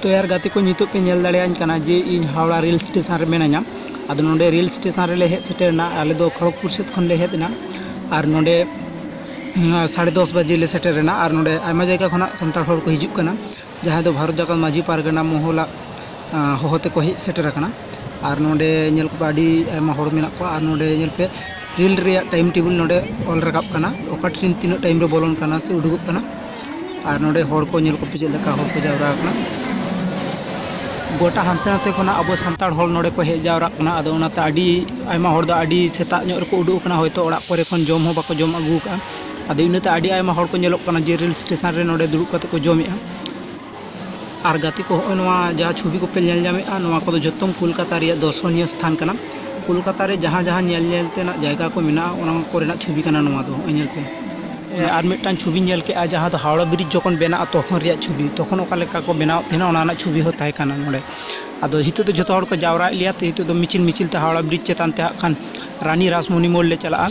ᱛᱚ ᱭᱟᱨ ᱜᱟᱛᱮ ᱠᱚ ᱱᱤᱛᱚᱜ ᱯᱮ ᱧᱮᱞ ᱫᱟᱲᱮᱭᱟᱹᱧ ᱠᱟᱱᱟ ᱡᱮ ᱤᱧ ᱦᱟᱣᱲᱟ ᱨᱮᱞ ᱥᱴᱮᱥᱚᱱ ᱨᱮ ᱢᱤᱱᱟᱹᱧᱟ ᱟᱫᱚ ᱱᱚᱰᱮ ᱨᱮᱞ ᱥᱴᱮᱥᱚᱱ ᱨᱮᱞᱮ ᱦᱮᱡ ᱥᱮᱴᱮᱨᱮᱱᱟ ᱟᱞᱮ ᱫᱚ ᱠᱷᱚᱲᱚᱜᱽᱯᱩᱨ ᱥᱮᱫ ᱠᱷᱚᱱ ᱞᱮ ᱦᱮᱡ ᱮᱱᱟ ᱟᱨ ᱱᱚᱰᱮ ᱥᱟᱲᱮ ᱫᱚᱥ ᱵᱟᱡᱮ ᱞᱮ ᱥᱮᱴᱮᱨᱮᱱᱟ ᱟᱨ ᱱᱚᱰᱮ ᱟᱭᱢᱟ ᱡᱟᱭᱜᱟ ᱠᱷᱚᱱᱟᱜ ᱥᱟᱱᱛᱟᱲ ᱦᱚᱲ ᱠᱚ ᱦᱤᱡᱩᱜ ᱠᱟᱱᱟ ᱡᱟᱦᱟᱸᱭ ᱫᱚ ᱵᱷᱟᱨᱚᱛ ᱡᱟᱠᱟᱛ ᱢᱟᱹᱡᱷᱤ ᱯᱟᱨᱜᱟᱱᱟ ᱢᱚᱦᱚᱞᱟᱜ ᱦᱚᱦᱚ ᱛᱮᱠᱚ ᱦᱮᱡ ᱥᱮᱴᱮᱨ ᱟᱠᱟᱱᱟ ᱟᱨ ᱱᱚᱰᱮ ᱧᱮᱞ ᱠᱚᱯᱮ ᱟᱹᱰᱤ ᱟᱭᱢᱟ ᱦᱚᱲ ᱢᱮᱱᱟᱜ ᱠᱚᱣᱟ ᱟᱨ ᱱᱚᱰᱮ ᱧᱮᱞ ᱯᱮ ᱨᱮᱞ ᱨᱮᱭᱟᱜ ᱴᱟᱭᱤᱢ ᱴᱮᱵᱤᱞ ᱱᱚᱰᱮ ᱚᱞ ᱨᱟᱠᱟᱵ ᱠᱟᱱᱟ ᱚᱠᱟ ᱴᱨᱮᱱ ᱛᱤᱱᱟᱹᱜ ᱴᱟᱭᱤᱢ ᱨᱮ ᱵᱚᱞᱚᱱ ᱠᱟᱱᱟ ᱥᱮ ᱩᱰᱩᱠᱚᱜ ᱠᱟᱱᱟ ᱟᱨ ᱱᱚᱰᱮ ᱦᱚᱲ ᱠᱚ ᱧᱮᱞ ᱠᱚᱯᱮ ᱪᱮᱫ ᱞᱮᱠᱟ ᱦᱚᱲ ᱠᱚ ᱡᱟᱣᱨᱟ ᱟᱠᱟᱱᱟ ᱜᱚᱴᱟ ᱦᱟᱱᱛᱮ ᱱᱟᱛᱮ ᱠᱷᱚᱱᱟᱜ ᱟᱵᱚ ᱥᱟᱱᱛᱟᱲ ᱦᱚᱲ ᱱᱚᱰᱮ ᱠᱚ ᱦᱮᱡ ᱡᱟᱣᱨᱟᱜ ᱠᱟᱱᱟ ᱟᱫᱚ ᱚᱱᱟᱛᱮ ᱟᱹᱰᱤ ᱟᱭᱢᱟ ᱦᱚᱲ ᱫᱚ ᱟᱹᱰᱤ ᱥᱮᱛᱟᱜ ᱧᱚᱜ ᱨᱮᱠᱚ ᱩᱰᱩᱠ ᱟᱠᱟᱱᱟ ᱦᱚᱭᱛᱳ ᱚᱲᱟᱜ ᱠᱚᱨᱮ ᱠᱷᱚᱱ ᱡᱚᱢ ᱦᱚᱸ ᱵᱟᱠᱚ ᱡᱚᱢ ᱟᱹᱜᱩ ᱟᱠᱟᱫᱼᱟ ᱟᱫᱚ ᱤᱱᱟᱹᱛᱮ ᱟᱹᱰᱤ ᱟᱭᱢᱟ ᱦᱚᱲ ᱠᱚ ᱧᱮᱞᱚᱜ ᱠᱟᱱᱟ ᱡᱮ ᱨᱮᱹᱞ ᱥᱴᱮᱥᱚᱱ ᱨᱮ ᱱᱚᱰᱮ ᱫᱩᱲᱩᱵ ᱠᱟᱛᱮᱫ ᱠᱚ ᱡᱚᱢᱮᱫᱼᱟ ᱟᱨ ᱜᱟᱛᱮ ᱠᱚ ᱦᱚᱜᱼᱚᱭ ᱱᱚᱣᱟ ᱡᱟᱦᱟᱸ ᱪᱷᱚᱵᱤ ᱠᱚᱯᱮ ᱧᱮᱞ ᱧᱟᱢᱮᱫᱼᱟ ᱱᱚᱣᱟ ᱠᱚᱫᱚ ᱡᱚᱛᱚ ᱠᱳᱞᱠᱟᱛᱟ ᱨᱮᱭᱟᱜ ᱫᱚᱨᱥᱚᱱᱤᱭᱚ ᱥᱛᱷᱟᱱ ᱠᱟᱱᱟ ᱠᱳᱞᱠᱟᱛᱟ ᱨᱮ ᱡᱟᱦᱟᱸ ᱡᱟᱦᱟᱸ ᱧᱮᱞ ᱧᱮᱞ ᱛᱮᱱᱟᱜ ᱡᱟᱭᱜᱟ ᱠᱚ ᱢᱮᱱᱟᱜᱼᱟ ᱚᱱᱟ ᱠᱚᱨᱮᱱᱟᱜ ᱪᱷᱚᱵᱤ ᱠᱟᱱᱟ ᱱᱚᱣᱟ ᱫᱚ ᱦᱚᱜᱼᱚᱭ ᱧᱮᱞ ᱯᱮ ᱟᱨ ᱢᱤᱫᱴᱟᱝ ᱪᱷᱚᱵᱤ ᱧᱮᱞ ᱠᱮᱫᱼᱟ ᱡᱟᱦᱟᱸ ᱫᱚ ᱦᱟᱣᱲᱟ ᱵᱨᱤᱡᱽ ᱡᱚᱠᱷᱚᱱ ᱵᱮᱱᱟᱜᱼᱟ ᱛᱚᱠᱷᱚᱱ ᱨᱮᱭᱟᱜ ᱪᱷᱚᱵᱤ ᱛᱚᱠᱷᱚᱱ ᱚᱠᱟ ᱞᱮᱠᱟ ᱠᱚ ᱵᱮᱱᱟᱣᱮᱫ ᱛᱟᱦᱮᱱᱟ ᱚᱱᱟ ᱨᱮᱱᱟᱜ ᱪᱷᱚᱵᱤ ᱦᱚᱸ ᱛᱟᱦᱮᱸ ᱠᱟᱱᱟ ᱱᱚᱰᱮ ᱟᱫᱚ ᱱᱤᱛᱚᱜ ᱫᱚ ᱡᱚᱛᱚ ᱦᱚᱲ ᱠᱚ ᱡᱟᱣᱨᱟᱭᱮᱫ ᱞᱮᱭᱟ ᱛᱚ ᱱᱤᱛᱚᱜ ᱫᱚ ᱢᱤᱪᱷᱤᱞ ᱢᱤᱪᱷᱤᱞ ᱛᱮ ᱦᱟᱣᱲᱟ ᱵᱨᱤᱡᱽ ᱪᱮᱛᱟᱱ ᱛᱮ ᱦᱟᱸᱜ ᱠᱷᱟᱱ ᱨᱟᱱᱤ ᱨᱟᱥᱢᱚᱱᱤ ᱢᱳᱲ ᱞᱮ ᱪᱟᱞᱟᱜᱼᱟ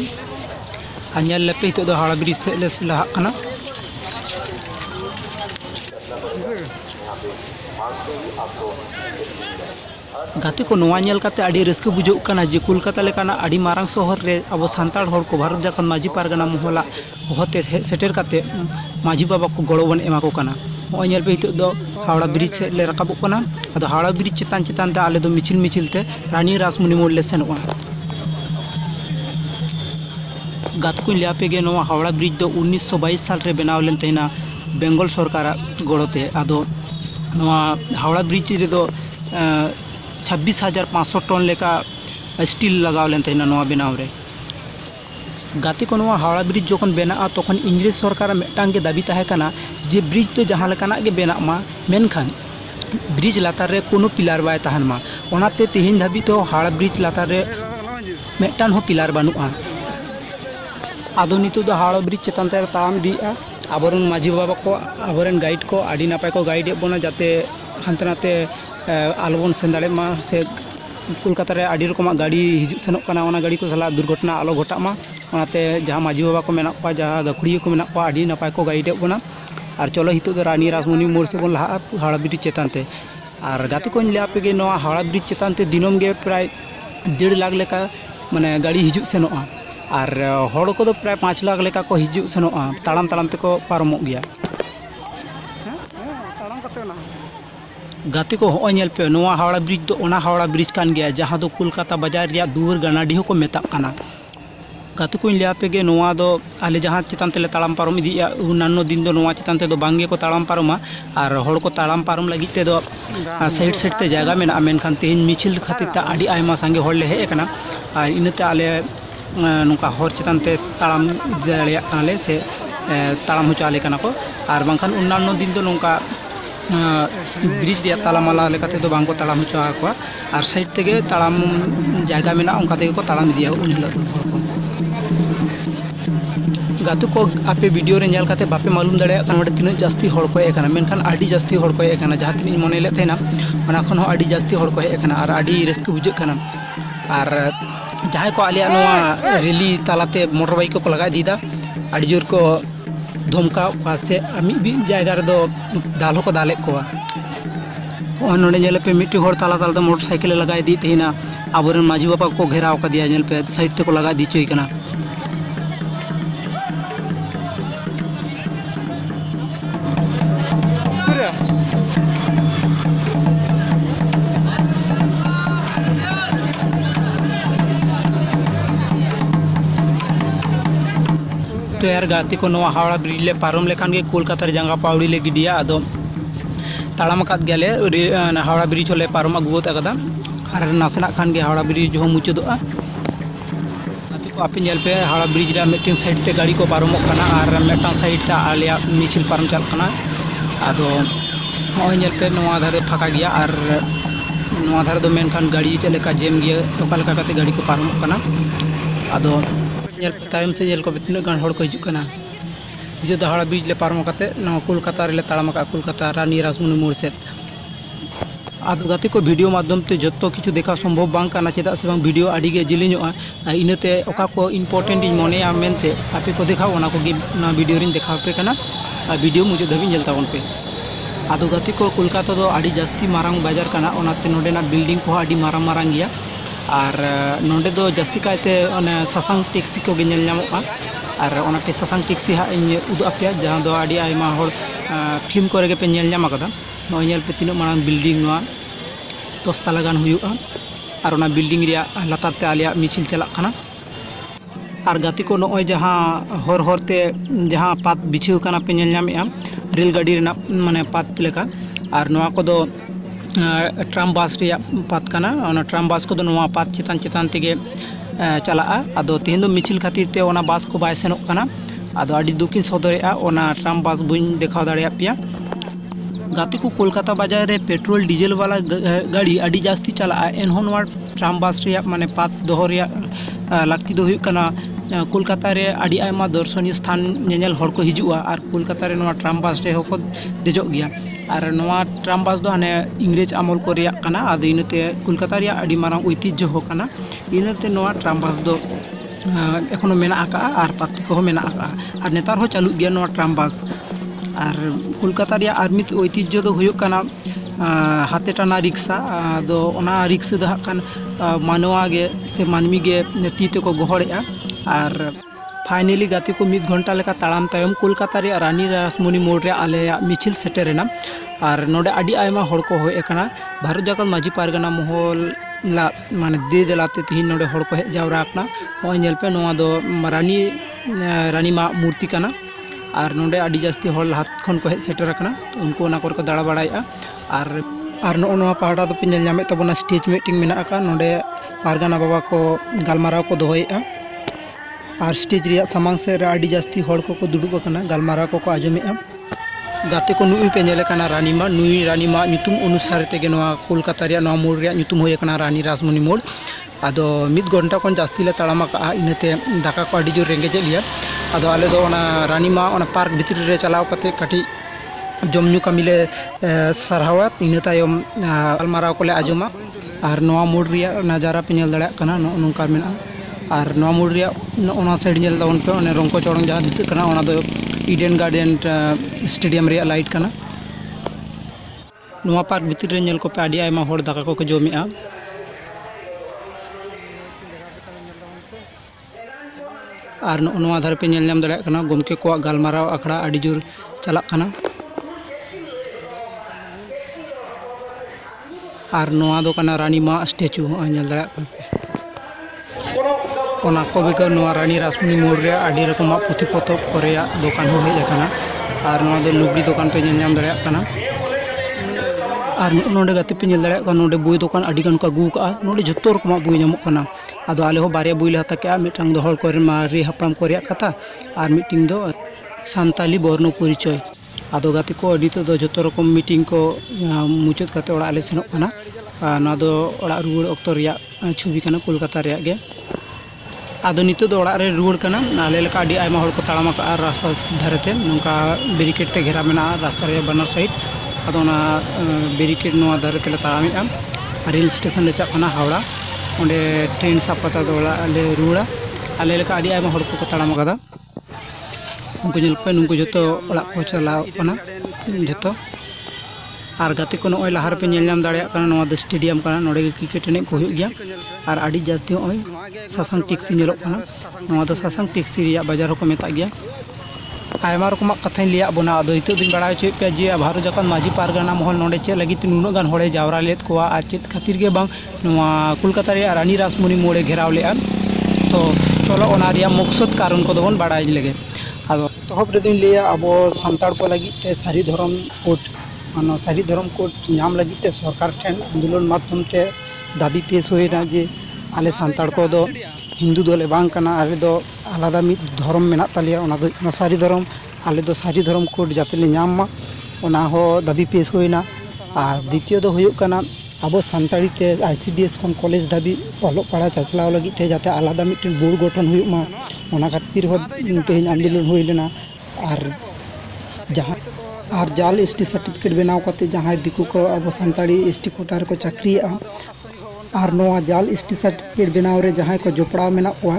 ᱟᱨ ᱧᱮᱞ ᱞᱮᱯᱮ ᱱᱤᱛᱚᱜ ᱫᱚ ᱦᱟᱣᱲᱟ ᱵᱨᱤᱡᱽ ᱥᱮᱫ ᱞᱮ ᱞᱟᱦᱟᱜ ᱠᱟᱱᱟ ᱜᱟᱛᱮ ᱠᱚ ᱱᱚᱣᱟ ᱧᱮᱞ ᱠᱟᱛᱮ ᱟᱹᱰᱤ ᱨᱟᱹᱥᱠᱟᱹ ᱵᱩᱡᱷᱟᱹᱜ ᱠᱟᱱᱟ ᱡᱮ ᱠᱳᱞᱠᱟᱛᱟ ᱞᱮᱠᱟᱱᱟᱜ ᱟᱹᱰᱤ ᱢᱟᱨᱟᱝ ᱥᱚᱦᱚᱨ ᱨᱮ ᱟᱵᱚ ᱥᱟᱱᱛᱟᱲ ᱦᱚᱲ ᱠᱚ ᱵᱷᱟᱨᱚᱛ ᱡᱟᱠᱟᱛ ᱢᱟᱹᱡᱷᱤ ᱯᱟᱨᱜᱟᱱᱟ ᱢᱚᱦᱚᱞᱟᱜ ᱦᱚᱦᱚᱛᱮ ᱦᱮᱡ ᱥᱮᱴᱮᱨ ᱠᱟᱛᱮ ᱢᱟᱹᱡᱷᱤ ᱵᱟᱵᱟ ᱠᱚ ᱜᱚᱲᱚ ᱵᱚᱱ ᱮᱢᱟ ᱠᱚ ᱠᱟᱱᱟ ᱱᱚᱜᱼᱚᱭ ᱧᱮᱞ ᱯᱮ ᱱᱤᱛᱚᱜ ᱫᱚ ᱦᱟᱣᱲᱟ ᱵᱨᱤᱡᱽ ᱥᱮᱫ ᱞᱮ ᱨᱟᱠᱟᱵᱚᱜ ᱠᱟᱱᱟ ᱟᱫᱚ ᱦᱟᱣᱲᱟ ᱵᱨᱤᱡᱽ ᱪᱮᱛᱟᱱ ᱪᱮᱛᱟᱱ ᱛᱮ ᱟᱞᱮ ᱫᱚ ᱢᱤᱪᱷᱤᱞ ᱢᱤᱪᱷᱤᱞ ᱛᱮ ᱨᱟᱱᱤ ᱨᱟᱥᱢᱩᱱᱤ ᱢᱳᱲ ᱞᱮ ᱥᱮᱱᱚᱜᱼᱟ ᱜᱟᱛᱮ ᱠᱚᱧ ᱞᱟᱹᱭ ᱟᱯᱮ ᱜᱮ ᱱᱚᱣᱟ ᱦᱟᱣᱲᱟ ᱵᱨᱤᱡᱽ ᱫᱚ ᱩᱱᱤᱥᱥᱚ ᱵᱟᱭᱤᱥ ᱥᱟᱞ ᱨᱮ ᱵᱮᱱᱟᱣ ᱞᱮᱱ ᱛᱟᱦᱮᱱᱟ ᱵᱮᱝᱜᱚᱞ ᱥᱚᱨᱠᱟᱨᱟᱜ ᱜᱚᱲᱚ ᱛᱮ ᱟᱫᱚ ᱱᱚᱣᱟ ᱦᱟᱣᱲᱟ ᱵᱨᱤᱡᱽ ᱨᱮᱫᱚ ᱪᱷᱟᱵᱵᱤᱥ ᱦᱟᱡᱟᱨ ᱯᱟᱸᱥᱥᱳ ᱴᱚᱱ ᱞᱮᱠᱟ ᱥᱴᱤᱞ ᱞᱟᱜᱟᱣ ᱞᱮᱱ ᱛᱟᱦᱮᱱᱟ ᱱᱚᱣᱟ ᱵᱮᱱᱟᱣ ᱨᱮ ᱜᱟᱛᱮ ᱠᱚ ᱱᱚᱣᱟ ᱦᱟᱣᱲᱟ ᱵᱨᱤᱡᱽ ᱡᱚᱠᱷᱚᱱ ᱵᱮᱱᱟᱜᱼᱟ ᱛᱚᱠᱷᱚᱱ ᱤᱝᱨᱮᱡᱽ ᱥᱚᱨᱠᱟᱨᱟᱜ ᱢᱤᱫᱴᱟᱝ ᱜᱮ ᱫᱟᱹᱵᱤ ᱛᱟᱦᱮᱸ ᱠᱟᱱᱟ ᱡᱮ ᱵᱨᱤᱡᱽ ᱫᱚ ᱡᱟᱦᱟᱸ ᱞᱮᱠᱟᱱᱟᱜ ᱜᱮ ᱵᱮᱱᱟᱜ ᱢᱟ ᱢᱮᱱᱠᱷᱟᱱ ᱵᱨᱤᱡᱽ ᱞᱟᱛᱟᱨ ᱨᱮ ᱠᱳᱱᱳ ᱯᱤᱞᱟᱨ ᱵᱟᱭ ᱛᱟᱦᱮᱱ ᱢᱟ ᱚᱱᱟᱛᱮ ᱛᱮᱦᱮᱧ ᱫᱷᱟᱹᱵᱤᱡ ᱛᱮᱦᱚᱸ ᱦᱟᱣᱲᱟ ᱵᱨᱤᱡᱽ ᱞᱟᱛᱟᱨ ᱨᱮ ᱢᱤᱫᱴᱟᱝ ᱦᱚᱸ ᱯᱤᱞᱟᱨ ᱵᱟᱹᱱᱩᱜᱼᱟ ᱟᱫᱚ ᱱᱤᱛᱚᱜ ᱫᱚ ᱦᱟᱣᱲᱟ ᱵᱨᱤᱡᱽ ᱪᱮᱛᱟᱱ ᱛᱮ ᱛᱟᱲᱟᱢ ᱤᱫᱤᱭᱮᱫᱼᱟ ᱟᱵᱚᱨᱮᱱ ᱢᱟᱹᱡᱷᱤ ᱵᱟᱵᱟ ᱠᱚ ᱟᱵᱚᱨᱮᱱ ᱜᱟᱭᱤᱰ ᱠᱚ ᱟᱹᱰᱤ ᱱᱟᱯᱟᱭ ᱠᱚ ᱜᱟᱭᱤᱰᱮᱫ ᱵᱚᱱᱟ ᱡᱟᱛᱮ ᱦᱟᱱᱛᱮ ᱱᱟᱛᱮ ᱟᱞᱚ ᱵᱚᱱ ᱥᱮᱱ ᱫᱟᱲᱮᱭᱟᱜ ᱢᱟ ᱥᱮ ᱠᱳᱞᱠᱟᱛᱟ ᱨᱮ ᱟᱹᱰᱤ ᱨᱚᱠᱚᱢᱟᱜ ᱜᱟᱹᱰᱤ ᱦᱤᱡᱩᱜ ᱥᱮᱱᱚᱜ ᱠᱟᱱᱟ ᱚᱱᱟ ᱜᱟᱹᱰᱤ ᱠᱚ ᱥᱟᱞᱟᱜ ᱫᱩᱨᱜᱷᱚᱴᱚᱱᱟ ᱟᱞᱚ ᱜᱷᱚᱴᱟᱜ ᱢᱟ ᱚᱱᱟᱛᱮ ᱡᱟᱦᱟᱸ ᱢᱟᱹᱡᱷᱤ ᱵᱟᱵᱟ ᱠᱚ ᱢᱮᱱᱟᱜ ᱠᱚᱣᱟ ᱡᱟᱦᱟᱸ ᱜᱟᱹᱠᱷᱩᱲᱤᱭᱟᱹ ᱠᱚ ᱢᱮᱱᱟᱜ ᱠᱚᱣᱟ ᱟᱹᱰᱤ ᱱᱟᱯᱟᱭ ᱠᱚ ᱜᱟᱭᱤᱰ ᱮᱫ ᱵᱚᱱᱟ ᱟᱨ ᱪᱚᱞᱚ ᱱᱤᱛᱚᱜ ᱫᱚ ᱨᱟᱱᱤ ᱨᱟᱥᱢᱚᱱᱤ ᱢᱳᱲ ᱥᱮᱫ ᱵᱚᱱ ᱞᱟᱦᱟᱜᱼᱟ ᱦᱟᱣᱲᱟ ᱵᱨᱤᱡᱽ ᱪᱮᱛᱟᱱ ᱛᱮ ᱟᱨ ᱜᱟᱛᱮ ᱠᱚᱧ ᱞᱟᱹᱭ ᱟᱯᱮ ᱜᱮ ᱱᱚᱣᱟ ᱦᱟᱣᱲᱟ ᱵᱨᱤᱡᱽ ᱪᱮᱛᱟᱱ ᱛᱮ ᱫᱤᱱᱟᱹᱢ ᱜᱮ ᱯᱨᱟᱭ ᱰᱮᱲ ᱞᱟᱠᱷ ᱞᱮᱠᱟ ᱢᱟᱱᱮ ᱜᱟᱹᱰᱤ ᱦᱤᱡᱩᱜ ᱥᱮᱱᱚᱜᱼᱟ ᱟᱨ ᱦᱚᱲ ᱠᱚᱫᱚ ᱯᱨᱟᱭ ᱯᱟᱸᱪ ᱞᱟᱠᱷ ᱞᱮᱠᱟ ᱠᱚ ᱦᱤᱡᱩᱜ ᱥᱮᱱᱚᱜᱼᱟ ᱛᱟᱲᱟᱢ ᱛᱟᱲᱟᱢ ᱛᱮᱠᱚ ᱯᱟᱨᱚᱢᱚᱜ ᱜᱮᱭᱟ ᱦᱮᱸ ᱦᱮᱸ ᱛᱟᱲᱟᱢ ᱠᱟᱛᱮᱫ ᱚᱱᱟ ᱦᱚᱸ ᱜᱟᱛᱮ ᱠᱚ ᱦᱚᱸᱜᱼᱚᱭ ᱧᱮᱞ ᱯᱮ ᱱᱚᱣᱟ ᱦᱟᱣᱲᱟ ᱵᱨᱤᱡᱽ ᱫᱚ ᱚᱱᱟ ᱦᱟᱣᱲᱟ ᱵᱨᱤᱡᱽ ᱠᱟᱱ ᱜᱮᱭᱟ ᱡᱟᱦᱟᱸ ᱫᱚ ᱠᱳᱞᱠᱟᱛᱟ ᱵᱟᱡᱟᱨ ᱨᱮᱭᱟᱜ ᱫᱩᱣᱟᱹᱨ ᱜᱟᱱᱟᱰᱤ ᱦᱚᱸᱠᱚ ᱢᱮᱛᱟᱜ ᱠᱟᱱᱟ ᱜᱟᱛᱮ ᱠᱚᱧ ᱞᱟᱹᱭ ᱟᱯᱮ ᱜᱮ ᱱᱚᱣᱟ ᱫᱚ ᱟᱞᱮ ᱡᱟᱦᱟᱸ ᱪᱮᱛᱟᱱ ᱛᱮᱞᱮ ᱛᱟᱲᱟᱢ ᱯᱟᱨᱚᱢ ᱤᱫᱤᱭᱮᱜᱼᱟ ᱚᱱᱱᱟᱱᱱᱚ ᱫᱤᱱ ᱫᱚ ᱱᱚᱣᱟ ᱪᱮᱛᱟᱱ ᱛᱮᱫᱚ ᱵᱟᱝ ᱜᱮᱠᱚ ᱛᱟᱲᱟᱢ ᱯᱟᱨᱚᱢᱟ ᱟᱨ ᱦᱚᱲ ᱠᱚ ᱛᱟᱲᱟᱢ ᱯᱟᱨᱚᱢ ᱞᱟᱹᱜᱤᱫ ᱛᱮᱫᱚ ᱥᱟᱭᱤᱰ ᱥᱟᱭᱤᱰ ᱛᱮ ᱡᱟᱭᱜᱟ ᱢᱮᱱᱟᱜᱼᱟ ᱢᱮᱱᱠᱷᱟᱱ ᱛᱮᱦᱮᱧ ᱢᱤᱪᱷᱤᱞ ᱠᱷᱟᱹᱛᱤᱨ ᱛᱮ ᱟᱹᱰᱤ ᱟᱭᱢᱟ ᱥᱟᱸᱜᱮ ᱦᱚᱲ ᱞᱮ ᱦᱮᱡ ᱟᱠᱟᱱᱟ ᱟᱨ ᱤᱱᱟᱹᱛᱮ ᱟᱞᱮ ᱱᱚᱝᱠᱟ ᱦᱚᱨ ᱪᱮᱛᱟᱱ ᱛᱮ ᱛᱟᱲᱟᱢ ᱤᱫᱤ ᱫᱟᱲᱮᱭᱟᱜ ᱠᱟᱱᱟᱞᱮ ᱥᱮ ᱛᱟᱲᱟᱢ ᱦᱚᱪᱚ ᱟᱞᱮ ᱠᱟᱱᱟ ᱠᱚ ᱟᱨ ᱵᱟᱝᱠᱷᱟᱱ ᱚᱱᱱᱟᱱᱚ ᱫᱤᱱ ᱫᱚ ᱱᱚᱝᱠᱟ ᱵᱨᱤᱡᱽ ᱨᱮᱭᱟᱜ ᱛᱟᱞᱟ ᱢᱟᱞᱟ ᱞᱮᱠᱟ ᱛᱮᱫᱚ ᱵᱟᱝ ᱠᱚ ᱛᱟᱲᱟᱢ ᱦᱚᱪᱚ ᱟᱠᱚᱣᱟ ᱟᱨ ᱥᱟᱭᱤᱰ ᱛᱮᱜᱮ ᱛᱟᱲᱟᱢ ᱡᱟᱭᱜᱟ ᱢᱮᱱᱟᱜᱼᱟ ᱚᱱᱠᱟ ᱛᱮᱜᱮ ᱠᱚ ᱛᱟᱲᱟᱢ ᱤᱫᱤᱭᱟ ᱩᱱ ᱦᱤᱞᱳᱜ ᱫᱚ ᱦᱚᱲ ᱠᱚ ᱜᱟᱛᱮ ᱠᱚ ᱟᱯᱮ ᱵᱷᱤᱰᱤᱭᱳ ᱨᱮ ᱧᱮᱞ ᱠᱟᱛᱮ ᱵᱟᱯᱮ ᱢᱟᱞᱩᱢ ᱫᱟᱲᱮᱭᱟᱜ ᱠᱟᱱᱟ ᱱᱚᱰᱮ ᱛᱤᱱᱟᱹᱜ ᱡᱟᱹᱥᱛᱤ ᱦᱚᱲ ᱠᱚ ᱦᱮᱡ ᱟᱠᱟᱱᱟ ᱢᱮᱱᱠᱷᱟᱱ ᱟᱹᱰᱤ ᱡᱟᱹᱥᱛᱤ ᱦᱚᱲ ᱠᱚ ᱦᱮᱡ ᱟᱠᱟᱱᱟ ᱡᱟᱦᱟᱸ ᱛᱤᱱᱟᱹᱜ ᱤᱧ ᱢᱚᱱᱮ ᱞᱮᱫ ᱛᱟᱦᱮᱱᱟ ᱚᱱᱟ ᱠᱷᱚᱱ ᱦᱚᱸ ᱟᱹᱰᱤ ᱡᱟᱹᱥᱛᱤ ᱦᱚᱲ ᱠᱚ ᱦᱮᱡ ᱟᱠᱟᱱᱟ ᱟᱨ ᱟᱹᱰᱤ ᱨᱟᱹᱥᱠᱟᱹ ᱵᱩᱡᱷᱟᱹᱜ ᱠᱟᱱᱟ ᱟᱨ ᱡᱟᱦᱟᱸᱭ ᱠᱚ ᱟᱞᱮᱭᱟᱜ ᱱᱚᱣᱟ ᱨᱮᱞᱤ ᱛᱟᱞᱟᱛᱮ ᱢᱚᱴᱚᱨ ᱵᱟᱭᱤᱠ ᱠᱚᱠᱚ ᱞᱟᱜᱟ ᱤᱫᱤᱭᱮᱫᱟ ᱟᱹᱰᱤ ᱡᱳᱨ ᱠᱚ ᱫᱷᱚᱢᱠᱟᱣ ᱮᱫ ᱠᱚᱣᱟ ᱥᱮ ᱢᱤᱫ ᱢᱤᱫ ᱡᱟᱭᱜᱟ ᱨᱮᱫᱚ ᱫᱟᱞ ᱦᱚᱸᱠᱚ ᱫᱟᱞᱮᱫ ᱠᱚᱣᱟ ᱱᱚᱜᱼᱚᱭ ᱱᱚᱰᱮ ᱧᱮᱞ ᱯᱮ ᱢᱤᱫᱴᱮᱱ ᱦᱚᱲ ᱛᱟᱞᱟ ᱛᱟᱞᱟᱛᱮ ᱢᱚᱴᱚᱨ ᱥᱟᱭᱠᱮᱞᱮ ᱞᱟᱜᱟ ᱤᱫᱤᱭᱮᱫ ᱛᱟᱦᱮᱱᱟ ᱟᱵᱚᱨᱮᱱ ᱢᱟᱹᱡᱷᱤ ᱵᱟᱵᱟ ᱠᱚ ᱜᱷᱮᱨᱟᱣ ᱠᱟᱫᱮᱭᱟ ᱧᱮᱞ ᱯᱮ ᱥᱟᱭᱤᱰ ᱛᱮᱠᱚ ᱞᱟᱜᱟ ᱤᱫᱤ ᱦᱚᱪᱚᱭᱮ ᱠᱟᱱᱟ ᱛᱚ ᱭᱟᱨ ᱜᱟᱛᱮ ᱠᱚ ᱱᱚᱣᱟ ᱦᱟᱣᱲᱟ ᱵᱨᱤᱡᱽ ᱞᱮ ᱯᱟᱨᱚᱢ ᱞᱮᱠᱷᱟᱱ ᱜᱮ ᱠᱳᱞᱠᱟᱛᱟ ᱨᱮ ᱡᱟᱸᱜᱟ ᱯᱟᱣᱲᱤ ᱞᱮ ᱜᱤᱰᱤᱭᱟ ᱟᱫᱚ ᱛᱟᱲᱟᱢ ᱟᱠᱟᱫ ᱜᱮᱭᱟᱞᱮ ᱦᱟᱣᱲᱟ ᱵᱨᱤᱡᱽ ᱦᱚᱸᱞᱮ ᱯᱟᱨᱚᱢ ᱟᱹᱜᱩ ᱜᱚᱫ ᱟᱠᱟᱫᱟ ᱟᱨ ᱱᱟᱥᱮᱱᱟᱜ ᱠᱷᱟᱱ ᱜᱮ ᱦᱟᱣᱲᱟ ᱵᱨᱤᱡᱽ ᱦᱚᱸ ᱢᱩᱪᱟᱹᱫᱚᱜᱼᱟ ᱜᱟᱛᱮ ᱠᱚ ᱟᱯᱮ ᱧᱮᱞ ᱯᱮ ᱦᱟᱣᱲᱟ ᱵᱨᱤᱡᱽ ᱨᱮᱭᱟᱜ ᱢᱤᱫᱴᱮᱱ ᱥᱟᱭᱤᱰ ᱛᱮ ᱜᱟᱹᱰᱤ ᱠᱚ ᱯᱟᱨᱚᱢᱚᱜ ᱠᱟᱱᱟ ᱟᱨ ᱢᱤᱫᱴᱟᱝ ᱥᱟᱭᱤᱰ ᱛᱮ ᱟᱞᱮᱭᱟᱜ ᱢᱤᱪᱷᱤᱞ ᱯᱟᱨᱚᱢ ᱪᱟᱞᱟᱜ ᱠᱟᱱᱟ ᱟᱫᱚ ᱱᱚᱜᱼᱚᱭ ᱧᱮᱞ ᱯᱮ ᱱᱚᱣᱟ ᱫᱷᱟᱨᱮ ᱯᱷᱟᱸᱠᱟ ᱜᱮᱭᱟ ᱟᱨ ᱱᱚᱣᱟ ᱫᱷᱟᱨᱮ ᱫᱚ ᱢᱮᱱᱠᱷᱟᱱ ᱜᱟᱹᱰᱤ ᱪᱮᱫ ᱞᱮᱠᱟ ᱡᱮᱢ ᱜᱮᱭᱟ ᱚᱠᱟ ᱞᱮᱠᱟ ᱠᱟᱛᱮᱫ ᱜᱟᱹᱰᱤ ᱠᱚ ᱯᱟᱨᱚᱢᱚᱜ ᱠᱟᱱᱟ ᱟᱫᱚ ᱧᱮᱞ ᱯᱮ ᱛᱟᱭᱚᱢ ᱥᱮᱫ ᱧᱮᱞ ᱠᱚᱯᱮ ᱛᱤᱱᱟᱹᱜ ᱜᱟᱱ ᱦᱚᱲ ᱠᱚ ᱦᱤᱡᱩᱜ ᱠᱟᱱᱟ ᱱᱤᱛᱚᱜ ᱫᱚ ᱦᱟᱣᱲᱟ ᱵᱨᱤᱡᱽ ᱞᱮ ᱯᱟᱨᱚᱢ ᱠᱟᱛᱮᱫ ᱱᱚᱣᱟ ᱠᱳᱞᱠᱟᱛᱟ ᱨᱮᱞᱮ ᱛᱟᱲᱟᱢ ᱟᱠᱟᱫᱼᱟ ᱠᱳᱞᱠᱟᱛᱟ ᱨᱟᱱᱤ ᱨᱟᱥᱢᱚᱱᱤ ᱢᱳᱲ ᱥᱮᱫ ᱟᱨ ᱜᱟᱛᱮ ᱠᱚ ᱵᱷᱤᱰᱤᱭᱳ ᱢᱟᱫᱽᱫᱷᱚᱢ ᱛᱮ ᱡᱚᱛᱚ ᱠᱤᱪᱷᱩ ᱫᱮᱠᱷᱟᱣ ᱥᱚᱢᱵᱷᱚᱵᱽ ᱵᱟᱝ ᱠᱟᱱᱟ ᱪᱮᱫᱟᱜ ᱥᱮ ᱵᱟᱝ ᱵᱷᱤᱰᱤᱭᱳ ᱟᱹᱰᱤ ᱜᱮ ᱡᱤᱞᱤᱧᱚᱜᱼᱟ ᱟᱨ ᱤᱱᱟᱹᱛᱮ ᱚᱠᱟ ᱠᱚ ᱤᱢᱯᱚᱨᱴᱮᱱᱴ ᱤᱧ ᱢᱚᱱᱮᱭᱟ ᱢᱮᱱᱛᱮ ᱟᱯᱮ ᱠᱚ ᱫᱮᱠᱷᱟᱣ ᱚᱱᱟ ᱠᱚᱜᱮ ᱚᱱᱟ ᱵᱷᱤᱰᱤᱭᱳ ᱨᱤᱧ ᱫᱮᱠᱷᱟᱣ ᱟᱯᱮ ᱠᱟᱱᱟ ᱟᱨ ᱵᱷᱤᱰᱤᱭᱳ ᱢᱩᱪᱟᱹᱫ ᱫᱷᱟᱹᱵᱤᱡ ᱧᱮᱞ ᱛᱟᱵᱚᱱ ᱯᱮ ᱟᱫᱚ ᱜᱟᱛᱮ ᱠᱚ ᱠᱳᱞᱠᱟᱛᱟ ᱫᱚ ᱟᱹᱰᱤ ᱡᱟᱹᱥᱛᱤ ᱢᱟᱨᱟᱝ ᱵᱟᱡᱟᱨ ᱠᱟᱱᱟ ᱚᱱᱟᱛᱮ ᱱᱚᱰᱮᱱᱟᱜ ᱵᱤᱞᱰᱤᱝ ᱠᱚᱦᱚᱸ ᱟᱹᱰᱤ ᱢᱟᱨᱟᱝ ᱢᱟᱨᱟᱝ ᱜᱮᱭᱟ ᱟᱨ ᱱᱚᱰᱮ ᱫᱚ ᱡᱟᱹᱥᱛᱤ ᱠᱟᱭᱛᱮ ᱚᱱᱮ ᱥᱟᱥᱟᱝ ᱴᱮᱠᱥᱤ ᱠᱚᱜᱮ ᱧᱮᱞ ᱧᱟᱢᱚᱜᱼᱟ ᱟᱨ ᱚᱱᱟᱛᱮ ᱥᱟᱥᱟᱝ ᱴᱮᱠᱥᱤ ᱦᱟᱸᱜ ᱤᱧ ᱩᱫᱩᱜ ᱟᱯᱮᱭᱟ ᱡᱟᱦᱟᱸ ᱫᱚ ᱟᱹᱰᱤ ᱟᱭᱢᱟ ᱦᱚᱲ ᱯᱷᱤᱞᱢ ᱠᱚᱨᱮ ᱜᱮᱯᱮ ᱧᱮᱞ ᱧᱟᱢ ᱟᱠᱟᱫᱟ ᱱᱚᱜᱼᱚᱭ ᱧᱮᱞ ᱯᱮ ᱛᱤᱱᱟᱹᱜ ᱢᱟᱨᱟᱝ ᱵᱤᱞᱰᱤᱝ ᱱᱚᱣᱟ ᱫᱚᱥ ᱛᱟᱞᱟ ᱜᱟᱱ ᱦᱩᱭᱩᱜᱼᱟ ᱟᱨ ᱚᱱᱟ ᱵᱤᱞᱰᱤᱝ ᱨᱮᱭᱟᱜ ᱞᱟᱛᱟᱨ ᱛᱮ ᱟᱞᱮᱭᱟᱜ ᱢᱤᱪᱷᱤᱞ ᱪᱟᱞᱟᱜ ᱠᱟᱱᱟ ᱟᱨ ᱜᱟᱛᱮ ᱠᱚ ᱱᱚᱜᱼᱚᱭ ᱡᱟᱦᱟᱸ ᱦᱚᱨ ᱦᱚᱨ ᱛᱮ ᱡᱟᱦᱟᱸ ᱯᱟᱛ ᱵᱤᱪᱷᱟᱹᱣ ᱠᱟᱱᱟ ᱯᱮ ᱧᱮᱞ ᱧᱟᱢᱮᱫᱼᱟ ᱨᱮᱹᱞ ᱜᱟᱹᱰᱤ ᱨᱮᱱᱟᱜ ᱢᱟᱱᱮ ᱯᱟᱛ ᱞᱮᱠᱟ ᱟᱨ ᱱᱚᱣᱟ ᱠᱚᱫᱚ ᱴᱨᱟᱢ ᱵᱟᱥ ᱨᱮᱭᱟᱜ ᱯᱟᱛ ᱠᱟᱱᱟ ᱚᱱᱟ ᱴᱨᱟᱢ ᱵᱟᱥ ᱠᱚᱫᱚ ᱱᱚᱣᱟ ᱯᱟᱛ ᱪᱮᱛᱟᱱ ᱪᱮᱛᱟᱱ ᱛᱮᱜᱮ ᱪᱟᱞᱟᱜᱼᱟ ᱟᱫᱚ ᱛᱮᱦᱮᱧ ᱫᱚ ᱢᱤᱪᱷᱤᱞ ᱠᱷᱟᱹᱛᱤᱨ ᱛᱮ ᱚᱱᱟ ᱵᱟᱥ ᱠᱚ ᱵᱟᱭ ᱥᱮᱱᱚᱜ ᱠᱟᱱᱟ ᱟᱫᱚ ᱟᱹᱰᱤ ᱫᱩᱠᱤᱧ ᱥᱚᱫᱚᱨᱮᱫᱼᱟ ᱚᱱᱟ ᱴᱨᱟᱢ ᱵᱟᱥ ᱵᱟᱹᱧ ᱫᱮᱠᱷᱟᱣ ᱫᱟᱲᱮᱭᱟᱜ ᱯᱮᱭᱟ ᱜᱟᱛᱮ ᱠᱚ ᱠᱳᱞᱠᱟᱛᱟ ᱵᱟᱡᱟᱨ ᱨᱮ ᱯᱮᱴᱨᱳᱞ ᱰᱤᱡᱮᱞ ᱵᱟᱞᱟ ᱜᱟᱹᱰᱤ ᱟᱹᱰᱤ ᱡᱟᱹᱥᱛᱤ ᱪᱟᱞᱟᱜᱼᱟ ᱮᱱᱦᱚᱸ ᱱᱚᱣᱟ ᱴᱨᱟᱢ ᱵᱟᱥ ᱨᱮᱭᱟᱜ ᱢᱟᱱᱮ ᱯᱟᱛ ᱫᱚᱦᱚ ᱨᱮᱭᱟᱜ ᱞᱟᱹᱠᱛᱤ ᱫᱚ ᱦᱩᱭᱩᱜ ᱠᱟᱱᱟ ᱠᱳᱞᱠᱟᱛᱟ ᱨᱮ ᱟᱹᱰᱤ ᱟᱭᱢᱟ ᱫᱚᱨᱥᱚᱱᱤᱭᱚ ᱥᱛᱷᱟᱱ ᱧᱮᱧᱮᱞ ᱦᱚᱲ ᱠᱚ ᱦᱤᱡᱩᱜᱼᱟ ᱟᱨ ᱠᱳᱞᱠᱟᱛᱟ ᱨᱮ ᱱᱚᱣᱟ ᱴᱨᱟᱢ ᱵᱟᱥ ᱨᱮᱦᱚᱸ ᱠᱚ ᱫᱮᱡᱚᱜ ᱜᱮᱭᱟ ᱟᱨ ᱱᱚᱣᱟ ᱴᱨᱟᱢ ᱵᱟᱥ ᱫᱚ ᱦᱟᱱᱮ ᱤᱝᱨᱮᱡᱽ ᱟᱢᱚᱞ ᱠᱚ ᱨᱮᱭᱟᱜ ᱠᱟᱱᱟ ᱟᱫᱚ ᱤᱱᱟᱹᱛᱮ ᱠᱳᱞᱠᱟᱛᱟ ᱨᱮᱭᱟᱜ ᱟᱹᱰᱤ ᱢᱟᱨᱟᱝ ᱳᱭᱛᱤᱡᱡᱚ ᱦᱚᱸ ᱠᱟᱱᱟ ᱤᱱᱟᱹᱛᱮ ᱱᱚᱣᱟ ᱴᱨᱟᱢ ᱵᱟᱥ ᱫᱚ ᱮᱠᱷᱚᱱᱳ ᱢᱮᱱᱟᱜ ᱟᱠᱟᱫᱼᱟ ᱟᱨ ᱯᱟᱹᱛᱤ ᱠᱚᱦᱚᱸ ᱢᱮᱱᱟᱜ ᱟᱠᱟᱫᱼᱟ ᱟᱨ ᱱᱮᱛᱟᱨ ᱦᱚᱸ ᱪᱟᱹᱞᱩᱜ ᱜᱮᱭᱟ ᱱᱚᱣᱟ ᱴᱨᱟᱢ ᱵᱟᱥ ᱟᱨ ᱠᱳᱞᱠᱟᱛᱟ ᱨᱮᱭᱟᱜ ᱟᱨ ᱢᱤᱫ ᱳᱭᱛᱤᱡᱡᱚ ᱫᱚ ᱦᱩᱭᱩᱜ ᱠᱟᱱᱟ ᱦᱟᱛᱮ ᱴᱟᱱᱟ ᱨᱤᱠᱥᱟ ᱟᱫᱚ ᱚᱱᱟ ᱨᱤᱠᱥᱟᱹ ᱫᱚ ᱦᱟᱸᱜ ᱠᱷᱟᱱ ᱢᱟᱱᱣᱟ ᱜᱮ ᱥᱮ ᱢᱟᱹᱱᱢᱤ ᱜᱮ ᱛᱤ ᱛᱮᱠᱚ ᱜᱚᱦᱚᱲᱮᱫᱼᱟ ᱟᱨ ᱯᱷᱟᱭᱱᱮᱞᱤ ᱜᱟᱛᱮ ᱠᱚ ᱢᱤᱫ ᱜᱷᱚᱱᱴᱟ ᱞᱮᱠᱟ ᱛᱟᱲᱟᱢ ᱛᱟᱭᱚᱢ ᱠᱳᱞᱠᱟᱛᱟ ᱨᱮᱭᱟᱜ ᱨᱟᱱᱤ ᱨᱟᱥᱢᱚᱱᱤ ᱢᱳᱲ ᱨᱮ ᱟᱞᱮᱭᱟᱜ ᱢᱤᱪᱷᱤᱞ ᱥᱮᱴᱮᱨ ᱮᱱᱟ ᱟᱨ ᱱᱚᱰᱮ ᱟᱹᱰᱤ ᱟᱭᱢᱟ ᱦᱚᱲ ᱠᱚ ᱦᱮᱡ ᱟᱠᱟᱱᱟ ᱵᱷᱟᱨᱚᱛ ᱡᱟᱠᱟᱛ ᱢᱟᱹᱡᱷᱤ ᱯᱟᱨᱜᱟᱱᱟ ᱢᱚᱦᱚᱞ ᱞᱟᱜ ᱢᱟᱱᱮ ᱫᱮ ᱫᱮᱞᱟᱛᱮ ᱛᱮᱦᱮᱧ ᱱᱚᱰᱮ ᱦᱚᱲ ᱠᱚ ᱦᱮᱡ ᱡᱟᱣᱨᱟ ᱟᱠᱟᱱᱟ ᱱᱚᱜᱼᱚᱭ ᱧᱮᱞ ᱯᱮ ᱱᱚᱣᱟ ᱫᱚ ᱨᱟᱱᱤ ᱨᱟᱱᱤᱢᱟ ᱢᱩᱨᱛᱤ ᱠᱟᱱᱟ ᱟᱨ ᱱᱚᱰᱮ ᱟᱹᱰᱤ ᱡᱟᱹᱥᱛᱤ ᱦᱚᱲ ᱞᱟᱦᱟ ᱠᱷᱚᱱ ᱠᱚ ᱦᱮᱡ ᱥᱮᱴᱮᱨ ᱟᱠᱟᱱᱟ ᱩᱱᱠᱩ ᱚᱱᱟ ᱠᱚᱨᱮ ᱠᱚ ᱫᱟᱬᱟ ᱵᱟᱲᱟᱭᱮᱫᱼᱟ ᱟᱨ ᱟᱨ ᱱᱚᱜᱼᱚ ᱱᱚᱣᱟ ᱯᱟᱦᱴᱟ ᱫᱚᱯᱮ ᱧᱮᱞ ᱧᱟᱢᱮᱫ ᱛᱟᱵᱚᱱᱟ ᱥᱴᱮᱡᱽ ᱢᱤᱫᱴᱮᱱ ᱢᱮᱱᱟᱜ ᱟᱠᱟᱫ ᱱᱚᱰᱮ ᱯᱟᱨᱜᱟᱱᱟ ᱵᱟᱵᱟ ᱠᱚ ᱜᱟᱞᱢᱟᱨᱟᱣ ᱠᱚ ᱫᱚᱦᱚᱭᱮᱫᱼᱟ ᱟᱨ ᱥᱴᱮᱡᱽ ᱨᱮᱭᱟᱜ ᱥᱟᱢᱟᱝ ᱥᱮᱫ ᱨᱮ ᱟᱹᱰᱤ ᱡᱟᱹᱥᱛᱤ ᱦᱚᱲ ᱠᱚᱠᱚ ᱫᱩᱲᱩᱵ ᱟᱠᱟᱱᱟ ᱜᱟᱞᱢᱟᱨᱟᱣ ᱠᱚᱠᱚ ᱟᱸᱡᱚᱢᱮᱫᱼᱟ ᱜᱟᱛᱮ ᱠᱚ ᱱᱩᱭ ᱯᱮ ᱧᱮᱞᱮ ᱠᱟᱱᱟ ᱨᱟᱱᱤᱢᱟ ᱱᱩᱭ ᱨᱟᱱᱤᱢᱟ ᱧᱩᱛᱩᱢ ᱚᱱᱩᱥᱟᱨ ᱛᱮᱜᱮ ᱱᱚᱣᱟ ᱠᱳᱞᱠᱟᱛᱟ ᱨᱮᱭᱟᱜ ᱱᱚᱣᱟ ᱢᱳᱲ ᱨᱮᱭᱟᱜ ᱧᱩᱛᱩᱢ ᱦᱩᱭ ᱟᱠᱟᱱᱟ ᱨᱟᱱᱤ ᱨᱟᱥᱢᱚᱱᱤ ᱢᱳᱲ ᱟᱫᱚ ᱢᱤᱫ ᱜᱷᱚᱱᱴᱟ ᱠᱷᱚᱱ ᱡᱟᱹᱥᱛᱤ ᱞᱮ ᱛᱟᱲᱟᱢ ᱟᱠᱟᱫᱼᱟ ᱤᱱᱟᱹᱛᱮ ᱫᱟᱠᱟ ᱠᱚ ᱟᱹᱰᱤ ᱡᱳᱨ ᱨᱮᱸᱜᱮᱡᱮᱫ ᱞᱮᱭᱟ ᱟᱫᱚ ᱟᱞᱮ ᱫᱚ ᱚᱱᱟ ᱨᱟᱱᱤᱢᱟ ᱚᱱᱟ ᱯᱟᱨᱠ ᱵᱷᱤᱛᱨᱤ ᱨᱮ ᱪᱟᱞᱟᱣ ᱠᱟᱛᱮᱫ ᱠᱟᱹᱴᱤᱡ ᱡᱚᱢᱼᱧᱩ ᱠᱟᱹᱢᱤ ᱞᱮ ᱥᱟᱨᱦᱟᱣᱟ ᱤᱱᱟᱹ ᱛᱟᱭᱚᱢ ᱜᱟᱞᱢᱟᱨᱟᱣ ᱠᱚᱞᱮ ᱟᱸᱡᱚᱢᱟ ᱟᱨ ᱱᱚᱣᱟ ᱢᱳᱲ ᱨᱮᱭᱟᱜ ᱱᱟᱡᱟᱨᱟ ᱯᱮ ᱧᱮᱞ ᱫᱟᱲᱮᱭᱟᱜ ᱠᱟᱱᱟ ᱱᱚᱜᱼᱚ ᱱᱚᱝᱠᱟ ᱢᱮᱱᱟᱜᱼᱟ ᱟᱨ ᱱᱚᱣᱟ ᱢᱳᱲ ᱨᱮᱭᱟᱜ ᱱᱚᱜᱼᱚ ᱱᱚᱣᱟ ᱥᱟᱭᱤᱰ ᱧᱮᱞ ᱛᱟᱵᱚᱱ ᱯᱮ ᱚᱱᱮ ᱨᱚᱝᱠᱚ ᱪᱚᱲᱚᱝ ᱡᱟᱦᱟᱸ ᱫᱤᱥᱟᱹᱜ ᱠᱟᱱᱟ ᱚᱱᱟ ᱫᱚ ᱤᱰᱮᱱ ᱜᱟᱨᱰᱮᱱ ᱥᱴᱮᱰᱤᱭᱟᱢ ᱨᱮᱭᱟᱜ ᱞᱟᱭᱤᱴ ᱠᱟᱱᱟ ᱱᱚᱣᱟ ᱯᱟᱨᱠ ᱵᱷᱤᱛᱤᱨ ᱨᱮ ᱧᱮᱞ ᱠᱚᱯᱮ ᱟᱹᱰᱤ ᱟᱭᱢᱟ ᱦᱚᱲ ᱫᱟᱠᱟ ᱠᱚᱠᱚ ᱡᱚᱢᱮᱜᱼᱟ ᱟᱨ ᱱᱚᱜᱼᱚ ᱱᱚᱣᱟ ᱫᱷᱟᱨᱮ ᱯᱮ ᱧᱮᱞ ᱧᱟᱢ ᱫᱟᱲᱮᱭᱟᱜ ᱠᱟᱱᱟ ᱜᱚᱢᱠᱮ ᱠᱚᱣᱟᱜ ᱜᱟᱞᱢᱟᱨᱟᱣ ᱟᱠᱷᱲᱟ ᱟᱹᱰᱤ ᱡᱳᱨ ᱪᱟᱞᱟᱜ ᱠᱟᱱᱟ ᱟᱨ ᱱᱚᱣᱟ ᱫᱚ ᱠᱟᱱᱟ ᱨᱟᱱᱤ ᱢᱟ ᱥᱴᱮᱪᱩ ᱦᱚᱸᱜᱼᱚᱭ ᱧᱮᱞ ᱫᱟᱲᱮᱭᱟᱜ ᱠᱟᱱᱟ ᱚᱱᱟ ᱠᱚ ᱵᱮᱜᱚᱨ ᱱᱚᱣᱟ ᱨᱟᱱᱤ ᱨᱟᱥᱢᱩᱱᱤ ᱢᱳᱲ ᱨᱮ ᱟᱹᱰᱤ ᱨᱚᱠᱚᱢᱟᱜ ᱯᱩᱛᱷᱤ ᱯᱚᱛᱚᱵ ᱠᱚ ᱨᱮᱭᱟᱜ ᱫᱚᱠᱟᱱ ᱦᱚᱸ ᱦᱮᱡ ᱟᱠᱟᱱᱟ ᱟᱨ ᱱᱚᱣᱟ ᱫᱚ ᱞᱩᱜᱽᱲᱤ ᱫᱚᱠᱟᱱ ᱯᱮ ᱧᱮᱞ ᱧᱟᱢ ᱫᱟᱲᱮᱭᱟᱜ ᱠᱟᱱᱟ ᱟᱨ ᱱᱚᱜᱼᱚ ᱱᱚᱰᱮ ᱜᱟᱛᱮ ᱯᱮ ᱧᱮᱞ ᱫᱟᱲᱮᱭᱟᱜ ᱠᱟᱱᱟ ᱱᱚᱰᱮ ᱵᱳᱭ ᱫᱚᱠᱟᱱ ᱟᱹᱰᱤ ᱜᱟᱱ ᱠᱚ ᱟᱹᱜᱩ ᱟᱠᱟᱫᱼᱟ ᱱᱚᱰᱮ ᱡᱚᱛᱚ ᱨᱚᱠᱚᱢᱟᱜ ᱵᱳᱭ ᱧᱟᱢᱚᱜ ᱠᱟᱱᱟ ᱟᱫᱚ ᱟᱞᱮ ᱦᱚᱸ ᱵᱟᱨᱭᱟ ᱵᱳᱭ ᱞᱮ ᱦᱟᱛᱟᱣ ᱠᱮᱜᱼᱟ ᱢᱤᱫᱴᱟᱝ ᱫᱚ ᱦᱚᱲ ᱠᱚᱨᱮᱱ ᱢᱟᱨᱮ ᱦᱟᱯᱲᱟᱢ ᱠᱚ ᱨᱮᱭᱟᱜ ᱠᱟᱛᱷᱟ ᱟᱨ ᱢᱤᱫᱴᱤᱱ ᱫᱚ ᱥᱟᱱᱛᱟᱞᱤ ᱵᱚᱨᱱᱚ ᱯᱚᱨᱤᱪᱚᱭ ᱟᱫᱚ ᱜᱟᱛᱮ ᱠᱚ ᱟᱹᱰᱤ ᱛᱮᱫ ᱫᱚ ᱡᱚᱛᱚ ᱨᱚᱠᱚᱢ ᱢᱤᱴᱤᱝ ᱠᱚ ᱢᱩᱪᱟᱹᱫ ᱠᱟᱛᱮ ᱚᱲᱟᱜ ᱞᱮ ᱥᱮᱱᱚᱜ ᱠᱟᱱᱟ ᱟᱨ ᱱᱚᱣᱟ ᱫᱚ ᱚᱲᱟᱜ ᱨᱩᱣᱟᱹᱲ ᱚᱠᱛᱚ ᱨᱮᱭᱟᱜ ᱪᱷᱚᱵᱤ ᱠᱟᱱᱟ ᱠᱳᱞᱠᱟᱛᱟ ᱨᱮᱭᱟᱜ ᱜᱮ ᱟᱫᱚ ᱱᱤᱛᱚᱜ ᱫᱚ ᱚᱲᱟᱜ ᱨᱮ ᱨᱩᱣᱟᱹᱲ ᱠᱟᱱᱟ ᱟᱞᱮ ᱞᱮᱠᱟ ᱟᱹᱰᱤ ᱟᱭᱢᱟ ᱦᱚᱲ ᱠᱚ ᱛᱟᱲᱟᱢ ᱟᱠᱟᱜᱼᱟ ᱨᱟᱥᱛᱟ ᱫᱷᱟᱨᱮ ᱛᱮ ᱱᱚᱝᱠᱟ ᱵᱮᱨᱤᱠᱮᱰ ᱛᱮ ᱜᱷᱮᱨᱟ ᱢᱮᱱᱟᱜᱼᱟ ᱨᱟᱥᱛᱟ ᱨᱮᱭᱟᱜ ᱵᱟᱱᱟᱨ ᱥᱟᱭᱤᱰ ᱟᱫᱚ ᱚᱱᱟ ᱵᱮᱨᱤᱠᱮᱰ ᱱᱚᱣᱟ ᱫᱷᱟᱨᱮ ᱛᱮᱞᱮ ᱛᱟᱲᱟᱢᱮᱜᱼᱟ ᱨᱮᱞ ᱥᱴᱮᱥᱚᱱ ᱞᱮ ᱪᱟᱞᱟᱜ ᱠᱟᱱᱟ ᱦᱟᱣᱲᱟ ᱚᱸᱰᱮ ᱴᱨᱮᱱ ᱥᱟᱵ ᱠᱟᱛᱮ ᱟᱫᱚ ᱚᱲᱟᱜ ᱞᱮ ᱨᱩᱣᱟᱹᱲᱟ ᱟᱞᱮ ᱞᱮᱠᱟ ᱟᱹᱰᱤ ᱟᱭᱢᱟ ᱦᱚᱲ ᱠᱚᱠᱚ ᱛᱟᱲᱟᱢ ᱠᱟᱫᱟ ᱩᱱᱠᱩ ᱧᱮᱞ ᱠᱚᱯᱮ ᱱᱩᱠᱩ ᱡᱚᱛᱚ ᱚᱲᱟᱜ ᱠᱚ ᱪᱟᱞᱟᱣ ᱠᱟᱱᱟ ᱡᱚᱛᱚ ᱟᱨ ᱜᱟᱛᱮ ᱠᱚ ᱱᱚᱜᱼᱚᱭ ᱞᱟᱦᱟ ᱨᱮᱯᱮ ᱧᱮᱞ ᱧᱟᱢ ᱫᱟᱲᱮᱭᱟᱜ ᱠᱟᱱᱟ ᱱᱚᱣᱟ ᱫᱚ ᱥᱴᱮᱰᱤᱭᱟᱢ ᱠᱟᱱᱟ ᱱᱚᱰᱮ ᱜᱮ ᱠᱨᱤᱠᱮᱴ ᱮᱱᱮᱡ ᱠᱚ ᱦᱩᱭᱩᱜ ᱜᱮᱭᱟ ᱟᱨ ᱟᱹᱰᱤ ᱡᱟᱹᱥᱛᱤ ᱱᱚᱜᱼᱚᱭ ᱥᱟᱥᱟᱝ ᱴᱮᱠᱥᱤ ᱧᱮᱞᱚᱜ ᱠᱟᱱᱟ ᱱᱚᱣᱟ ᱫᱚ ᱥᱟᱥᱟᱝ ᱴᱮᱠᱥᱤ ᱨᱮᱭᱟᱜ ᱵᱟᱡᱟᱨ ᱦᱚᱸᱠᱚ ᱢᱮᱛᱟᱜ ᱜᱮᱭᱟ ᱟᱭᱢᱟ ᱨᱚᱠᱚᱢᱟᱜ ᱠᱟᱛᱷᱟᱧ ᱞᱟᱹᱭᱟᱫ ᱵᱚᱱᱟ ᱟᱫᱚ ᱱᱤᱛᱚᱜ ᱫᱚᱧ ᱵᱟᱲᱟᱭ ᱦᱚᱪᱚᱭᱮᱫ ᱯᱮᱭᱟ ᱡᱮ ᱵᱷᱟᱨᱚᱛ ᱡᱟᱠᱟᱛ ᱢᱟᱹᱡᱷᱤ ᱯᱟᱨᱜᱟᱱᱟ ᱢᱚᱦᱚᱞ ᱱᱚᱰᱮ ᱪᱮᱫ ᱞᱟᱹᱜᱤᱫ ᱛᱮ ᱱᱩᱱᱟᱹᱜ ᱜᱟᱱ ᱦᱚᱲᱮ ᱡᱟᱣᱨᱟ ᱞᱮᱫ ᱠᱚᱣᱟ ᱟᱨ ᱪᱮᱫ ᱠᱷᱟᱹᱛᱤᱨ ᱜᱮ ᱵᱟᱝ ᱱᱚᱣᱟ ᱠᱳᱞᱠᱟᱛᱟ ᱨᱮᱭᱟᱜ ᱨᱟᱱᱤ ᱨᱟᱥᱢᱚᱱᱤ ᱢᱳᱲᱮ ᱜᱷᱮᱨᱟᱣ ᱞᱮᱫᱼᱟ ᱛᱚ ᱪᱚᱞᱚ ᱚᱱᱟ ᱨᱮᱭᱟᱜ ᱢᱚᱠᱥᱚᱫ ᱠᱟᱨᱚᱱ ᱠᱚᱫᱚ ᱵᱚᱱ ᱵᱟᱲᱟᱭ ᱞᱮᱜᱮ ᱟᱫᱚ ᱮᱛᱚᱦᱚᱵ ᱨᱮᱫᱚᱧ ᱞᱟᱹᱭᱟ ᱟᱵᱚ ᱥᱟᱱᱛᱟᱲ ᱠᱚ ᱞᱟᱹᱜᱤᱫ ᱛᱮ ᱥᱟᱹᱨᱤ ᱫᱷᱚᱨᱚᱢ ᱠᱳᱰ ᱚᱱᱟ ᱥᱟᱹᱨᱤ ᱫᱷᱚᱨᱚᱢ ᱠᱳᱰ ᱧᱟᱢ ᱞᱟᱹᱜᱤᱫ ᱛᱮ ᱥᱚᱨᱠᱟᱨ ᱴᱷᱮᱱ ᱟᱱᱫᱳᱞᱚᱱ ᱢᱟᱫᱽᱫᱷᱚᱢ ᱛᱮ ᱫᱟᱹᱵᱤ ᱯᱮᱥ ᱦᱩᱭᱮᱱᱟ ᱡᱮ ᱟᱞᱮ ᱥᱟᱱᱛᱟᱲ ᱠᱚᱫᱚ ᱦᱤᱱᱫᱩ ᱫᱚᱞᱮ ᱵᱟᱝ ᱠᱟᱱᱟ ᱟᱞᱮ ᱫᱚ ᱟᱞᱟᱫᱟ ᱢᱤᱫ ᱫᱷᱚᱨᱚᱢ ᱢᱮᱱᱟᱜ ᱛᱟᱞᱮᱭᱟ ᱚᱱᱟ ᱫᱚ ᱦᱩᱭᱩᱜ ᱠᱟᱱᱟ ᱥᱟᱹᱨᱤ ᱫᱷᱚᱨᱚᱢ ᱟᱞᱮ ᱫᱚ ᱥᱟᱹᱨᱤ ᱫᱷᱚᱨᱚᱢ ᱠᱳᱰ ᱡᱟᱛᱮ ᱞᱮ ᱧᱟᱢ ᱢᱟ ᱚᱱᱟ ᱦᱚᱸ ᱫᱟᱹᱵᱤ ᱯᱮᱥ ᱦᱩᱭᱮᱱᱟ ᱟᱨ ᱫᱤᱛᱤᱭᱚ ᱫᱚ ᱦᱩᱭᱩᱜ ᱠᱟᱱᱟ ᱟᱵᱚ ᱥᱟᱱᱛᱟᱲᱤ ᱛᱮ ᱟᱭ ᱥᱤ ᱰᱤ ᱮᱥ ᱠᱷᱚᱱ ᱠᱚᱞᱮᱡᱽ ᱫᱷᱟᱹᱵᱤᱡ ᱚᱞᱚᱜ ᱯᱟᱲᱦᱟᱣ ᱪᱟᱪᱞᱟᱣ ᱞᱟᱹᱜᱤᱫ ᱛᱮ ᱡᱟᱛᱮ ᱟᱞᱟᱫᱟ ᱢᱤᱫᱴᱮᱱ ᱵᱳᱨᱰ ᱜᱚᱴᱷᱚᱱ ᱦᱩᱭᱩᱜ ᱢᱟ ᱚᱱᱟ ᱠᱷᱟᱹᱛᱤᱨ ᱦᱚᱸ ᱛᱮᱦᱮᱧ ᱟᱱᱫᱳᱞᱚᱱ ᱦᱩᱭ ᱞᱮᱱᱟ ᱟᱨ ᱡᱟᱦᱟᱸ ᱟᱨ ᱡᱟᱞ ᱮᱥ ᱴᱤ ᱥᱟᱨᱴᱤᱯᱷᱤᱠᱮᱴ ᱵᱮᱱᱟᱣ ᱠᱟᱛᱮᱫ ᱡᱟᱦᱟᱸᱭ ᱫᱤᱠᱩ ᱠᱚ ᱟᱵᱚ ᱥᱟᱱᱛᱟᱲᱤ ᱮᱥ ᱴᱤ ᱠᱳᱴᱟ ᱨᱮᱠᱚ ᱪᱟᱹᱠᱨᱤᱭᱮᱫᱼᱟ ᱟᱨ ᱱᱚᱣᱟ ᱡᱟᱞ ᱮᱥ ᱴᱤ ᱥᱟᱨᱴᱤᱯᱷᱤᱠᱮᱴ ᱵᱮᱱᱟᱣ ᱨᱮ ᱡᱟᱦᱟᱸᱭ ᱠᱚ ᱡᱚᱯᱲᱟᱣ ᱢᱮᱱᱟᱜ ᱠᱚᱣᱟ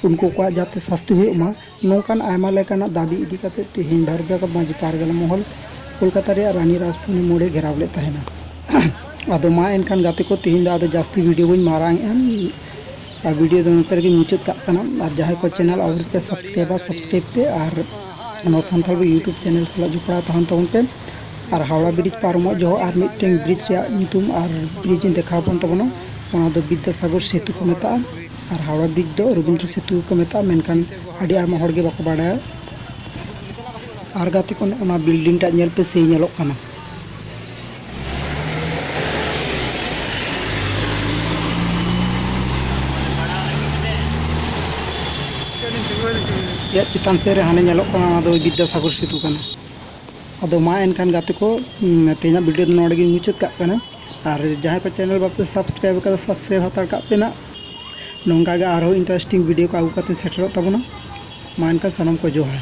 ᱩᱱᱠᱩ ᱠᱚᱣᱟᱜ ᱡᱟᱛᱮ ᱥᱟᱹᱥᱛᱤ ᱦᱩᱭᱩᱜ ᱢᱟ ᱱᱚᱝᱠᱟᱱ ᱟᱭᱢᱟ ᱞᱮᱠᱟᱱᱟᱜ ᱫᱟᱹᱵᱤ ᱤᱫᱤ ᱠᱟᱛᱮ ᱛᱮᱦᱮᱧ ᱵᱷᱟᱨᱚᱛ ᱡᱟᱠᱟᱛ ᱢᱟᱹᱡᱷᱤ ᱯᱟᱨᱜᱟᱱᱟ ᱢᱚᱦᱚᱞ ᱠᱳᱞᱠᱟᱛᱟ ᱨᱮᱭᱟᱜ ᱨᱟᱱᱤ ᱨᱟᱥᱯᱩᱱᱤ ᱢᱳᱲᱮ ᱜᱷᱮᱨᱟᱣ ᱞᱮᱫ ᱛᱟᱦᱮᱱᱟ ᱟᱫᱚ ᱢᱟ ᱮᱱᱠᱷᱟᱱ ᱜᱟᱛᱮ ᱠᱚ ᱛᱮᱦᱮᱧ ᱫᱚ ᱟᱫᱚ ᱡᱟᱹᱥᱛᱤ ᱵᱷᱤᱰᱤᱭᱳ ᱵᱟᱹᱧ ᱢᱟᱨᱟᱝ ᱮᱜᱼᱟ ᱟᱨ ᱵᱷᱤᱰᱤᱭᱳ ᱫᱚ ᱱᱚᱛᱮ ᱨᱮᱜᱮ ᱢᱩᱪᱟᱹᱫ ᱠᱟᱜ ᱠᱟᱱᱟ ᱟᱨ ᱡᱟᱦᱟᱸᱭ ᱠᱚ ᱪᱮᱱᱮᱞ ᱟᱹᱣᱨᱤ ᱯᱮ ᱥᱟᱵᱥᱠᱨᱟᱭᱤᱵᱟ ᱥᱟᱵᱥᱠᱨᱟᱭᱤᱵ ᱯᱮ ᱟᱨ ᱱᱚᱣᱟ ᱥᱟᱱᱛᱟᱲ ᱤᱭᱩᱴᱩᱵᱽ ᱪᱮᱱᱮᱞ ᱥᱟᱞᱟᱜ ᱡᱚᱯᱲᱟᱣ ᱛᱟᱦᱮᱱ ᱛᱟᱵᱚᱱ ᱯᱮ ᱟᱨ ᱦᱟᱣᱲᱟ ᱵᱨᱤᱡᱽ ᱯᱟᱨᱚᱢᱚᱜ ᱡᱚᱦᱚᱜ ᱟᱨ ᱢᱤᱫᱴᱮᱱ ᱵᱨᱤᱡᱽ ᱨᱮᱭᱟᱜ ᱧᱩᱛᱩᱢ ᱟᱨ ᱵᱨᱤᱡᱽ ᱤᱧ ᱫᱮᱠᱷᱟᱣ ᱟᱵᱚᱱ ᱛᱟᱵᱚᱱᱟ ᱚᱱᱟ ᱫᱚ ᱵᱤᱫᱽᱫᱟᱥᱟᱜᱚᱨ ᱥᱮᱛᱩ ᱠᱚ ᱢᱮᱛᱟᱜᱼᱟ ᱟᱨ ᱦᱟᱣᱲᱟ ᱵᱨᱤᱡᱽ ᱫᱚ ᱨᱚᱵᱤᱱᱫᱨᱚ ᱥᱮᱛᱩ ᱠᱚ ᱢᱮᱛᱟᱜᱼᱟ ᱢᱮᱱᱠᱷᱟᱱ ᱟᱹᱰᱤ ᱟᱭᱢᱟ ᱦᱚᱲ ᱜᱮ ᱵᱟᱠᱚ ᱵᱟᱲᱟᱭᱟ ᱟᱨ ᱜᱟᱛᱮ ᱠᱚ ᱚᱱᱟ ᱵᱤᱞᱰᱤᱝ ᱴᱟᱜ ᱧᱮᱞ ᱯᱮ ᱥᱮᱭ ᱧᱮᱞᱚᱜ ᱠᱟᱱᱟ ᱪᱮᱛᱟᱱ ᱥᱮᱫ ᱨᱮ ᱦᱟᱱᱮ ᱧᱮᱞᱚᱜ ᱠᱟᱱᱟ ᱚᱱᱟ ᱫᱚ ᱵᱤᱫᱽᱫᱟᱥᱟᱜᱚᱨ ᱥᱮᱛᱩ ᱠᱟᱱᱟ ᱟᱫᱚ ᱢᱟ ᱮᱱᱠᱷᱟᱱ ᱜᱟᱛᱮ ᱠᱚ ᱛᱮᱦᱮᱧᱟᱜ ᱵᱷᱤᱰᱤᱭᱳ ᱫᱚ ᱱᱚᱰᱮ ᱜᱤᱧ ᱢᱩᱪᱟᱹᱫ ᱠᱟᱜ ᱠᱟᱱᱟ ᱟᱨ ᱡᱟᱦᱟᱸᱭ ᱠᱚ ᱪᱮᱱᱮᱞ ᱵᱟᱯᱮ ᱥᱟᱵᱥᱠᱨᱟᱭᱤᱵᱽ ᱠᱟᱫᱟ ᱥᱟᱵᱥᱠᱨᱟᱭᱤᱵᱽ ᱦᱟᱛᱟᱲ ᱠᱟᱜ ᱯᱮ ᱱᱟᱜ ᱱᱚᱝᱠᱟ ᱜᱮ ᱟᱨᱦᱚᱸ ᱤᱱᱴᱟᱨᱮᱥᱴᱤᱝ ᱵᱷᱤᱰᱤᱭᱳ ᱠᱚ ᱟᱹᱜᱩ ᱠᱟᱛᱮ ᱥᱮᱴᱮᱨᱚᱜ ᱛᱟᱵᱚᱱᱟ ᱢᱟ ᱮᱱᱠᱷᱟᱱ ᱥᱟᱱᱟᱢ ᱠᱚ ᱡᱚᱦᱟᱨ